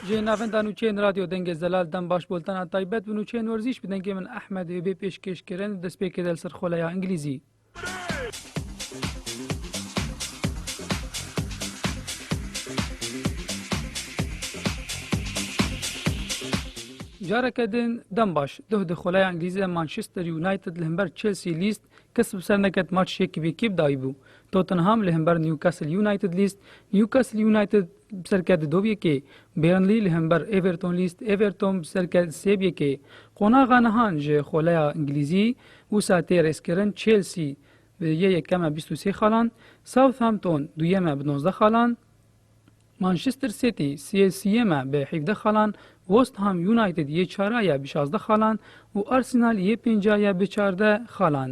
Ji navenda nûçeyên Radyo Dengê Zelal dem baş boltana taybet bi nûçeyên werzîş bi dengê min Ehmed Hêbê pêşkêş kirin destpêkê del serxoleya Ingilîzî. Careke din dem baş duh di xoleya Îngilîzî de Manchester United li himber Chelsea lîst kes bi ser neket maç yekî bi yekî bi dayî bû. Tottenham li himber Newcastle United lîst Newcastle United Bi serkerdî dov yekê Burnley li hember Everton lîst Everton bi serkerdî sêb yekê qonaxa nihan ji xoleya Îngilîzî wisa tê rêzkirin Chelsea bi yê yekeme bîst û sê xalan Southampton duyem e bi nozdeh xalan Manchester City sê siyem e bi hevdeh xalan West Ham United yê çara ye bi şazdeh xalan û Arsenal yê pênca ye bi çardeh xalan.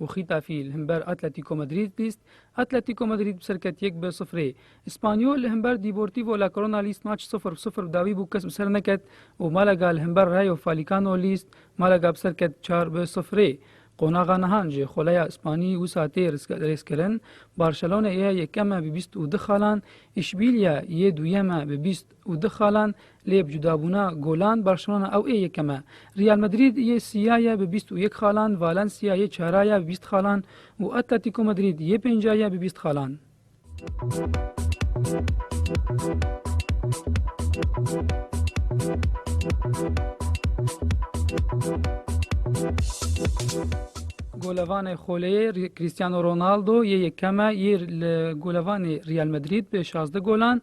û Xîtafî li himber Atletîko Madrîd lîst, Atletîko Madrîd bi serket yek bi sifrê. Îspanyol li himber Dîportîvo La Korona lîst maç sifr bi sifr bi dawî bû kes bi ser neket û Malaga li himber Rayo Falîkano lîst, Malaga bi serket çar bi sifrê. Qonaxa nihan ji xoleya Îspanî wisa tê rêzkirin, Barcelona yê yekem e bi bîst û du xalan, Îşbîlya yê duyem e bi bîst. û du xalan, lê bi cudabûna golan Barcelona ew ê yekem e. Real Madrid yê sîya ye bi bîst û yek xalan, Valencia yê çara ye bi bîst xalan û Atletico Madrid yê pênca ye bi bîst xalan. Golevanê Xoleyê, Cristiano Ronaldo yê yekem e yê li golevanê Real Madrid bi şazdeh golan,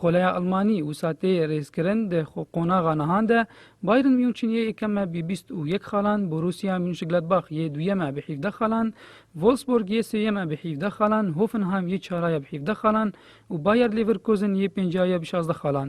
Xoleya Elmanî wisa tê rêzkirin di xwe qonaxa nihan de Bayern München yê yekem e bi bîst û yek xalan, Borussia Münchgladbach yê duyem e bi hîvdeh xalan, Wolfsburg yê sêyem e bi hîvdeh xalan, Hoffenheim yê çara ye bi hîvdeh xalan û Bayer Leverkusen yê pênca ye bi şazdeh xalan.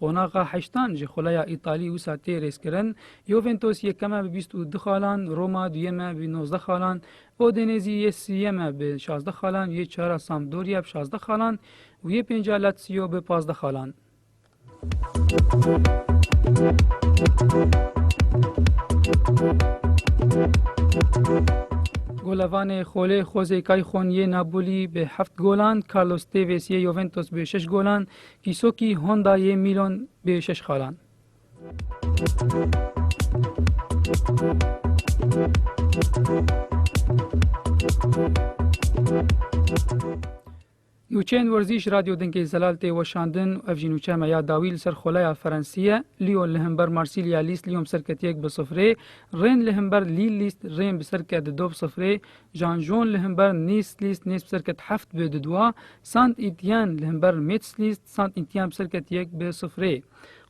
Qonaxa heştan ji xuleya Îtalî wisa tê rêzkirin, Juventus yekem e bi bîst û du xalan, Roma duyem e bi nozdeh xalan, Udinêzî yê siyem e bi şazdeh xalan, yê çar a Sampdoria bi şazdeh xalan û yê pênc a Lazio bi pazdeh xalan. Golevanê xolê Xozê Kayxon yê Napoliyî bi heft golan, Carlos Têvês yê Juventus bi şeş golan, Îsokî Honda yê Mîlon bê şeş xalan. Nûçeyên werzîş Radyo Dinkê Zelal tê weşandin û ev jî nûçe me ya dawî li ser xoleya Ferensî ye. Lyon li himber Marsilya lîst Lyon bi ser ketiyek bi sifrê, Rên li himber Lîl lîst Rên bi ser ket di dov sifrê, Jan Jon li himber Nice List Nice bi serket heft bi didwa, Saint Etienne li himber Metz List Saint Etienne bi serket yek bi sifrê.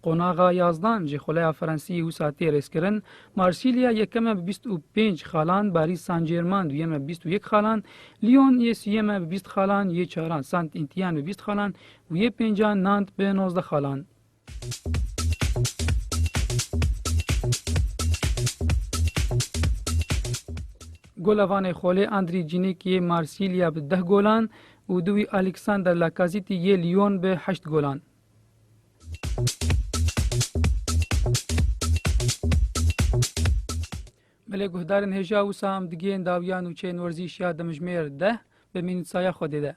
Qonaxa yazdan ji xuleya Frensiyê wisa tê rêzkirin, Marsilya yekem e bi bîst û pênc xalan, Parîs Saint-Germain duyem e bi bîst û yek xalan, Lyon yê siyem e bi bîst xalan, yê çaran Saint Etienne bi bîst xalan û yê pêncan Nantes bi nozdeh xalan. Gola vanê xolê Andrî Cînêk yê Marsîlya bi deh golan û du wî Alîksander Lakazîtî yê Lyon bi heşt golan. Belê guhdarên hêja wisa em digihên dawiyan û çên werzîş ya demijmêr deh bi mînîtsaya Xwedê de.